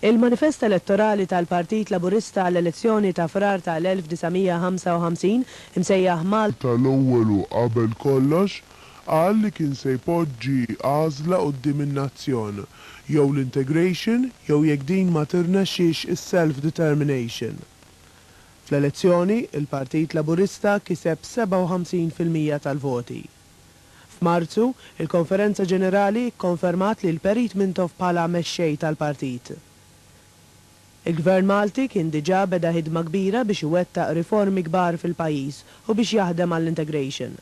Il-Manifest Elettorali tal-Partit Laburista għall-elezzjoni ta' Frar tal-1955, imsejjaħ Malta, ta' l-ewwel u qabel kollox, qal li kien se jpoġġi għażla quddiem in-nazzjon, jew l-integration jew jekk din ma tirnexxix is-self-determination. Fl-elezzjoni, il-Partit Laburista kiseb 57 fil-mija tal-voti. F'Marzu, il-Konferenza Ġenerali kkonfermat li l-Perit Mintoff bħala Mexxej tal-Partit. Il-Gvern Malti kien diġà beda ħidma kbira biex iwettaq riformi kbar fil-pajjiż u biex jaħdem għall-integration.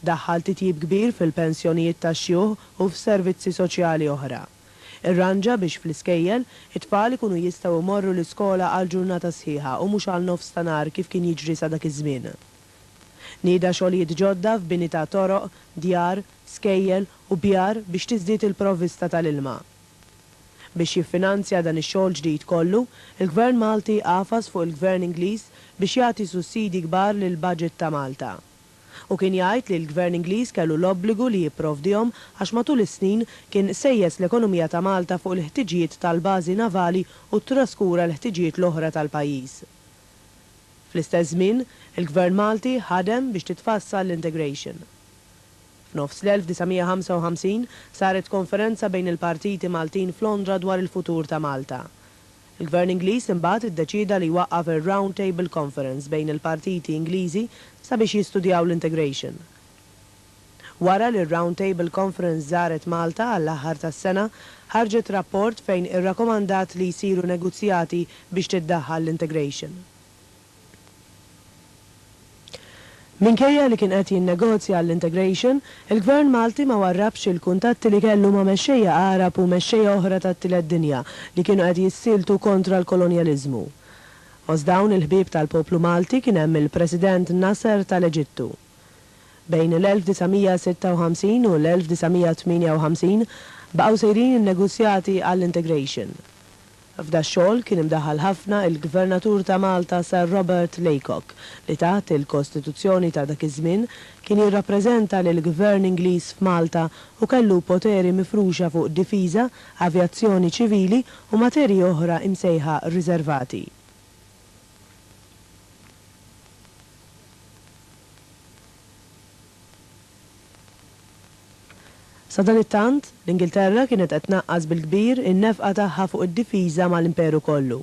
Daħħal titjib kbir fil-pensjonijiet tax-xjuħ u f'servizzi soċjali oħra. Irranġa biex fl-iskejjel, it-tfal ikunu jistgħu jmorru l-iskola għal ġurnata sħiħa u mhux għal nofs ta' nhar kif kien jiġri sa dak iż-żmien. Nieda xogħlijiet ġodda f'bini ta' toroq, djar, skejjel u bjar biex tiżdied il-provvista tal-ilma. Biex jiffinanzja dan ix-xogħol ġdid kollu, il-Gvern Malti għafas fuq il-Gvern Ingliż biex jagħti sussidji kbar lill-baġit ta' Malta. Hu kien jgħid li l-Gvern Ingliż kellu l-obbligu li jipprovdihom għax matul is-snin kien sejjes l-ekonomija ta' Malta fuq il-ħtiġijiet tal-bażi navali u ttraskura l-ħtiġijiet l-oħra tal-pajjiż. Fl-istess żmien, il-Gvern Malti ħadem biex titfassal l-integration. F'nofs l-1955 saret konferenza bejn il-partiti Maltin f'Londra dwar il-futur ta' Malta. Il-Gvern Ingliż imbagħad iddeċieda li jwaqqaf ir-Round Table Conference bejn il-partiti Ingliżi sabiex jistudjaw l-integration. Wara li r-Round Table Conference żaret Malta għall-aħħar tas-sena, ħarġet rapport fejn irrakomandat li jsiru negozjati biex tiddaħħal l-integration. Minkejja li kien qed jinnegozja għall-integration, il-Gvern Malti ma warrabx il-kuntatti li kellu ma' mexxejja Għarab u mexxejja oħra tat-Tielet Dinja li kienu qed jissieltu kontra l-kolonjaliżmu. Fost dawn il-ħbieb tal-poplu Malti kien hemm il-President Nasser tal-Eġittu. Bejn l-1956 u l-1958 baqgħu sejrin in-negozjati għall-integration. F'dax-xogħol kien imdaħħal ħafna il-Gvernatur ta' Malta Sir Robert Laycock li taħt il-Kostituzzjoni ta' dak iż-żmien kien jirrappreżenta lill-Gvern Ingliż f'Malta u kellu poteri mifruxa fuq difiża, avjazzjoni ċivili u materji oħra imsejħa riservati. Sadanittant, l-Ingilterra kienet qed tnaqqas bil-kbir in-nefqa tagħha fuq id-difiża mal-Imperu kollu.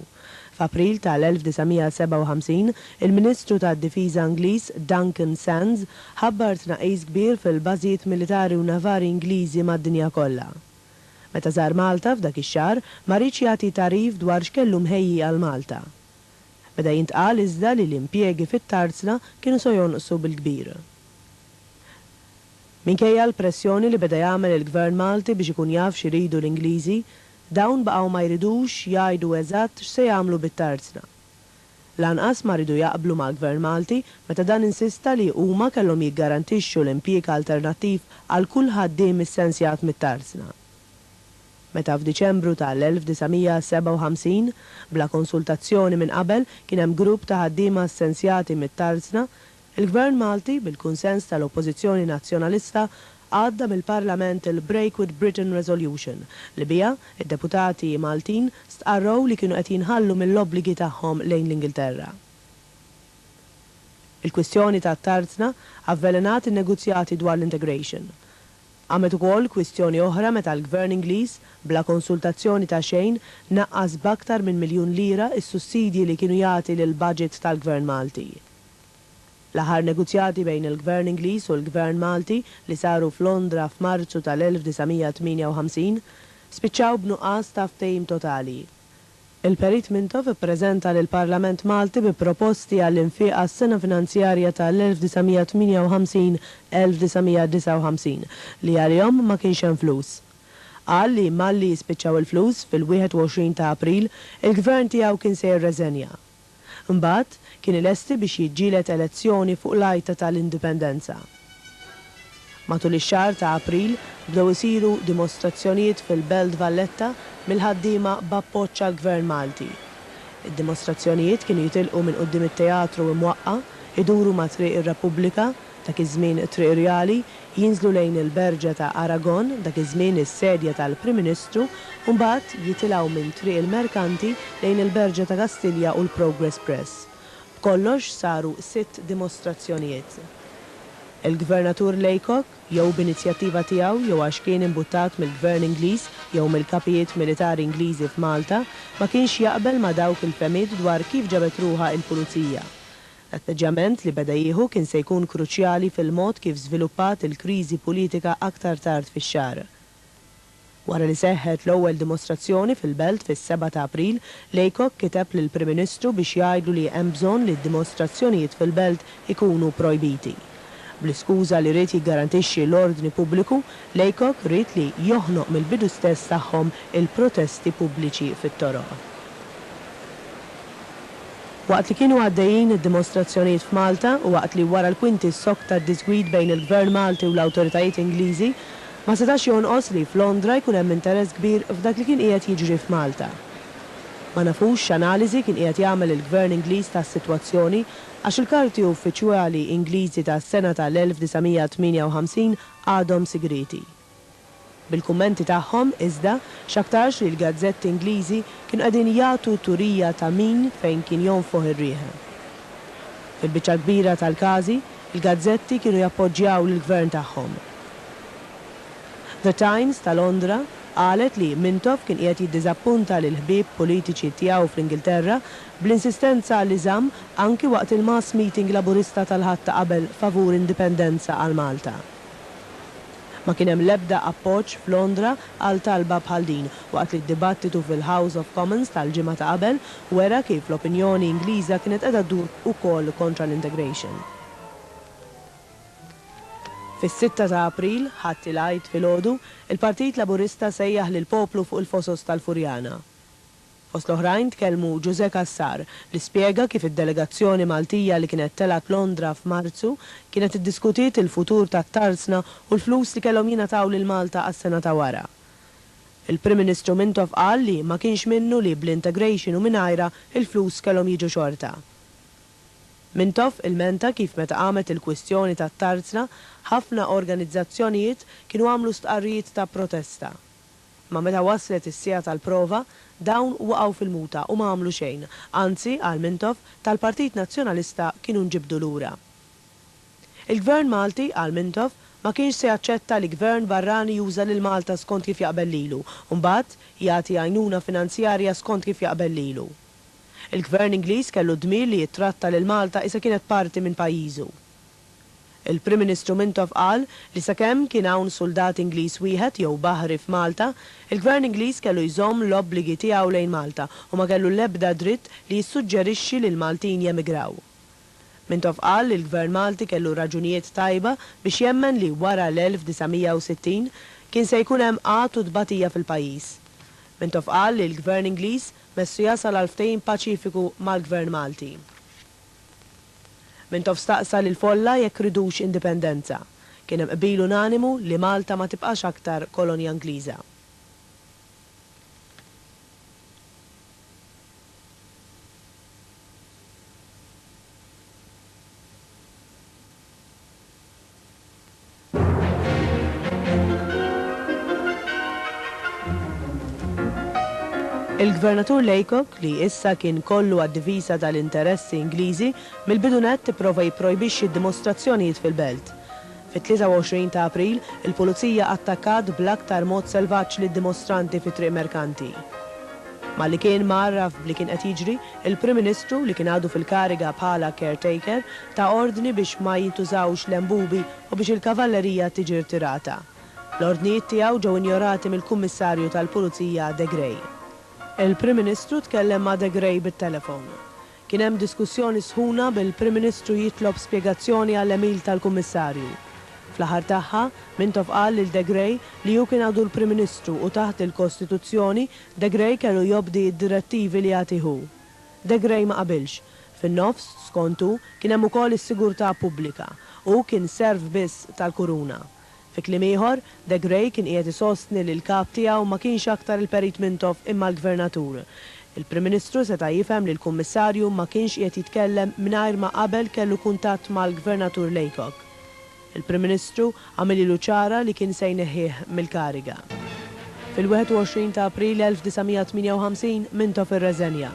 F'April tal-1957, il-Ministru tad-Difiża Ingliż, Duncan Sands, ħabbar tnaqqis kbir fil-bażijiet militari u navari Ingliżi mad-dinja kollha. Meta żar Malta f'dak ix-xahar, ma riedx jagħti tagħrif dwar x'kellu mħejji għal Malta. Beda jintqal iżda li l-impjiegi fit-Tarzna kienu se jonqsu bil-kbir. Minkejja l-pressjoni li beda jagħmel il-Gvern Malti biex ikun jaf x'iridu l-Ingliżi, dawn baqgħu ma jridux jgħidu eżatt x'se jagħmlu bit-Tarzna. Lanqas ma riedu jaqblu mal-Gvern Malti meta dan insista li huma kellhom jiggarantixxu l-impjieg alternattiv għal kull ħaddiem issensjat mit-tarsna. Meta f'Diċembru ta' l-1957, bla konsultazzjoni minn qabel, kien hemm grupp ta' ħaddiema ssensjati mit-tarsna, Il-Gvern Malti, bil-kunsens tal-Oppożizzjoni Nazzjonalista, għadda mill-Parlament il-Break with Britain Resolution, li biha, id-deputati Maltin stqarrew li kienu qed jinħallu mill-obbligi tagħhom lejn l-Ingilterra. Il-kwistjoni tat-tarzna avvelenat in-negozjati dwar l-integration. Qamet ukoll kwistjoni oħra meta l-Gvern Ingliż, bla konsultazzjoni ta' xejn, naqqas b'aktar minn miljun lira s-sussidji li kienu jagħti lill-budget tal-Gvern Malti. L-aħħar negozjati bejn il-Gvern Ingliż u l-Gvern Malti, li saru f'Londra f'Marzu tal-1958, spiċċaw b'nuqqas ta' ftehim totali. Il-Perit Mintoff ippreżenta lill-Parlament Malti bi proposti għall-infiq għas-sena finanzjarja tal-1958-1959, li għalihom ma kienx hemm flus. Qal li malli jispiċċaw il-flus, fil-21 ta' April, il-Gvern tiegħu kien se jirreżenja. Imbagħad, kien ilesti biex jiġġieled elezzjoni fuq l-għajta ta' l-Indipendenza. Matul ix-xahar ta' April, bdew isiru dimostrazzjonijiet fil-Belt Valletta mill-ħaddiema b'appoġġ għall-Gvern Malti. Id-dimostrazzjonijiet kienu jitilqu minn quddiem it-Teatru Imwaqqa', iduru ma' Triq ir-Repubblika, Dak iż-żmien it-Triq Rjali, jinżlu lejn il-Berġa ta' Aragon, dak iż-żmien is-sedja tal-Prim Ministru, u mbagħad jitilgħu minn Triq il-Merkanti lejn il-Berġa ta' Kastilja u l-Progress Press. B'kollox saru sitt dimostrazzjonijiet. Il-Gvernatur Laycock, jew b'inizjattiva tiegħu jew għax kien imbuttat mill-Gvern Ingliż jew mill-kapijiet militari Ingliżi f'Malta, ma kienx jaqbel ma' dawk il-fehmiet dwar kif ġabet ruħha il-Pulizija. L-atteġġjament li beda jieħu kien se jkun kruċjali fil-mod kif żviluppat il-kriżi politika aktar tard fix-xahar. Wara li seħħet l-ewwel dimostrazzjoni fil-belt fis-seba' ta' April, Laycock kiteb lill-Prim Ministru biex jgħidlu li hemm bżonn li d-dimostrazzjonijiet fil-belt ikunu projbiti. Bl-iskuża li ried jiggarantixxi l-ordni pubbliku, Laycock ried li joħnoq mill-bidu stess tagħhom il-protesti pubbliċi fit-toroq. Waqt li kienu għaddejjin id-dimostrazzjonijiet f'Malta u waqt li wara l-kwinti ssokta d-diżgwid bejn il-Gvern Malti u l-awtoritajiet Ingliżi, ma setax jonqos li f'Londra jkun hemm interess kbir f'dak li kien qiegħed jiġri f'Malta. Ma nafux x'analiżi kien qiegħed jagħmel il-Gvern Ingliż tas-sitwazzjoni Għax il-karti uffiċjwali Ingliżi tas-sena ta' l-1958 għadhom sigrieti. Bil-kummenti tagħhom, iżda, x'aktarx li l-gazzetti Ingliżi kienu qegħdin jagħtu turija ta' min fejn kien jonfoħ ir-riħ. Fil-biċċa l-kbira tal-każi, il-gazzetti kienu jappoġġjaw lill-gvern tagħhom. The Times ta' Londra qalet li Mintoff kien qiegħed jiddiżappunta lill-ħbieb politiċi tiegħu fl-Ingilterra bl-insistenza li żamm anki waqt il-mass meeting Laburista tal-Ħadd ta' qabel favur indipendenza għal Malta. Ma kien hemm l-ebda appoġġ f'Londra għal talba bħal din, waqt li d-dibattitu fil-House of Commons tal-ġimgħa ta' qabel wera kif l-opinjoni Ingliża kienet qiegħda ddur ukoll kontra l-integration. Fis-sitta ta' April, Ħadd il-Għid filgħodu, il-Partit Laburista sejjaħ lill-poplu fuq il-fosos tal-Furjana. Fost l-oħrajn tkellmu Ġużè Cassar li spjega kif id-delegazzjoni Maltija li kienet telgħet Londra f'Marzu kienet iddiskutiet il-futur tat-tarzna u l-flus li kellhom jingħataw lil Malta għas-sena ta' wara. Il-Prim Ministru Mintoff qal li ma kienx minnu li bl-integration u mingħajrha il-flus kellhom jiġu xorta. Mintoff ilmenta kif meta qamet il-kwistjoni tat-tarzna ħafna organizzazzjonijiet kienu għamlu stqarrijiet ta' protesta. Imma meta waslet is-siegħa tal-prova, dawn waqgħu fil-muta u ma għamlu xejn. Anzi, qal Mintoff, tal-Partit Nazzjonalista kienu nġibdu lura. Il-Gvern Malti, qal Mintoff, ma kienx se jaċċetta li Gvern barrani juża lil Malta skont kif jaqbel lilu u mbagħad jagħti għajnuna finanzjarja skont kif jaqbel lilu. Il-Gvern Ingliż kellu d-dmir li jittratta lil Malta isa kienet parti minn pajjiżu. Il-Prim Ministru Mintoff qal li sakemm kien hawn suldat Ingliż wieħed jew baħri f'Malta, il-Gvern Ingliż kellu jżomm l-obbligi tiegħu lejn Malta u ma kellu l-ebda dritt li jissuġġerixxi li l-Maltin jemigraw. Mintoff qal li l-Gvern Malti kellu raġunijiet tajba biex jemmen li wara l-1960 kien se jkun hemm qgħad u tbatija fil-pajjiż. Mintoff qal li l-Gvern Ingliż messu jasal għal ftehim paċifiku mal-Gvern Malti. Mintoff staqsa lill-folla jekk ridux indipendenza. Kien hemm qbil unanimu li Malta ma tibqax aktar kolonja Ingliża. Il-Gvernatur Laycock, li issa kien kollu għad-difiża tal-interessi Ingliżi, mill-bidu nett ipprova jipprojbixxi d-dimostrazzjonijiet fil-belt. Fit-23 ta' April, il-Pulizija attakkat bl-aktar mod selvaġġ lid-dimostranti fi Triq Merkanti. Malli kien mgħarraf b'li kien qed jiġri, il-Prim Ministru, li kien għadu fil-kariga bħala caretaker, Ta ordni biex ma jintużawx l-enbubi u biex il-kavallerija tiġi rtirata. L-ordnijiet tiegħu ġew injorati mill-Kummissarju tal-Pulizija De Grey. Il-Prim Ministru tkellem ma' De Grey bit-telefon. Kien hemm diskussjoni sħuna bil-Prim Ministru jitlob spjegazzjoni għall-għemil tal-Kummissarju. Fl-aħħar tagħha, Mintoff qal lil De Grey li hu kien għadu l-Prim Ministru u taħt il-Kostituzzjoni, De Grey kellu jobdi d-direttivi li jagħtih hu. De Grey ma qabilx. Fin-nofs, skontu, kien hemm ukoll is-sigurtà pubblika. Hu kien serv biss tal-Kuruna. Fi kliem ieħor, De Grey kien qiegħed isostni li l-kap tiegħu ma kienx aktar il-Perit Mintoff imma l-Gvernatur. Il-Prim Ministru seta' jifhem li l-Kummissarju ma kienx qiegħed jitkellem mingħajr ma qabel kellu kuntatt mal-Gvernatur Laycock. Il-Prim Ministru għamililu ċara li kien se jneħħih mill-kariga. Fil-21 ta' April 1958, Mintoff irreżenja.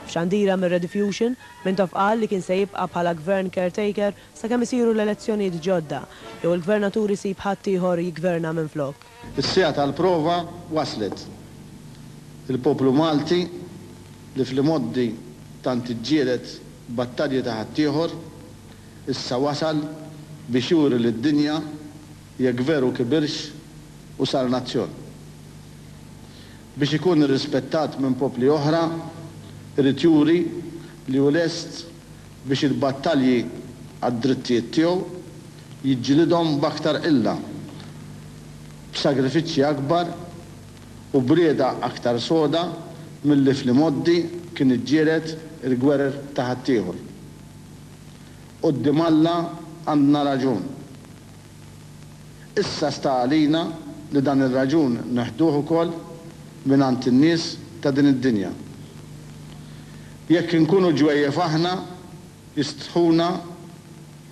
F'xandira mir-Rediffusion, Mintoff qal li kien se jibqa' bħala Gvern caretaker sakemm isiru l-elezzjonijiet ġodda jew il-Gvernatur isib ħaddieħor jiggverna minflok. Is-siegħa tal-prova waslet. Il-poplu Malti, li fl-imgħoddi tant iġġieled battalji ta' ħaddieħor, Issa wasal biex juri lid-dinja jekk veru kibirx u sar nazzjon. Biex ikun irrispettat minn popli oħra, irid juri li hu lest biex il-battalji għad-drittijiet tiegħu jiġġilidhom b'aktar qilla, b'sagrifiċċji akbar u b'rieda aktar soda milli fl-imgħoddi kien iġġieled il-gwerer ta' ħaddieħor. Quddiem Alla għandna raġun. Issa sta għalina li dan ir-raġun neħduh ukoll mingħand in-nies ta' din id-dinja. Jekk inkunu ġwejjef aħna, jistħuna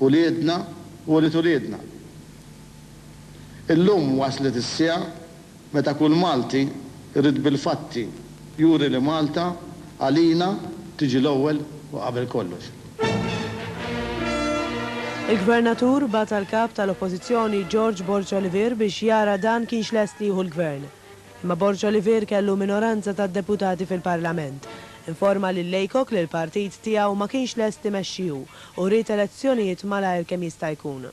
uliedna u ulied uliedna. Illum waslet is-siegħa Meta kull Malti jrid bil-fatti juri li Malta għalina tiġi l-ewwel u qabel kollox. Il-Gvernatur bagħat għall-Kap tal-Oppożizzjoni George Borg Olivier biex jara dan kienx lest li jieħu l-Gvern. Imma Borg Olivier kellu minoranza ta' deputati fil-Parlament. Informa lil Laycock li l-partit tiegħu ma kienx lest imexxi hu u ried elezzjonijiet malajr kemm jista' jkun.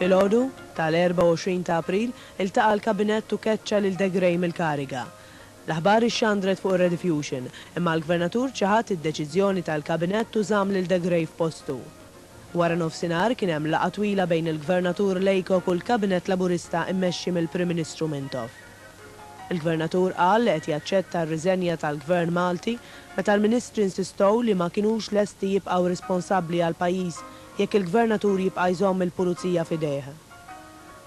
Filgħodu tal-24 ta' April iltaqa' l-Kabinett u keċċa lil De Grey mill-kariga. L-aħbar ixxandret fuq ir-Rediffusion, imma l-Gvernatur ċaħad id-deċiżjoni tal-Kabinett u żamm lil De Grey f'postu. Wara nofsinhar kien hemm laqgħa twila bejn il-Gvernatur Laycock u l-Kabinett Laburista mmexxi mill-Prim Ministru Mintoff. Il-Gvernatur qal li qed jaċċetta r-riżenja tal-Gvern Malti meta l-Ministri nsistow li ma kinux lesti jibqgħu responsabbli għall-pajjiż jekk il-Gvernatur jibqa' jżomm il-Pulizija f'idejh.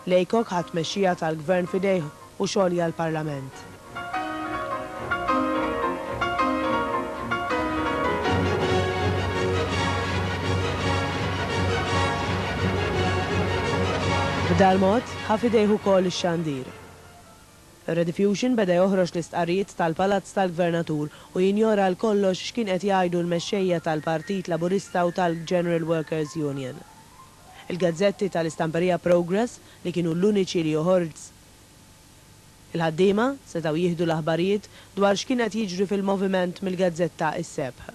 Laycock ħa t-tmexxija tal-Gvern f'idejh u xolja l-Parlament. B'dal-mod, ħa f'idejh ukoll ix-xandir. Rediffusion beda joħroġ l-istqarrijiet tal-Palazz tal-Gvernatur u jinjora għal kollox x'kien qed jgħidu l-mexxejja tal-Partit Laburista u tal-General Workers Union. Il-gazzetti tal-istamperija Progress li kienu l-uniċi li joħorġz. Il-ħaddiema setgħu jieħdu l-aħbarijiet dwar x'kien qed jiġri fil-moviment mill-gazzetta Is-Sebħ.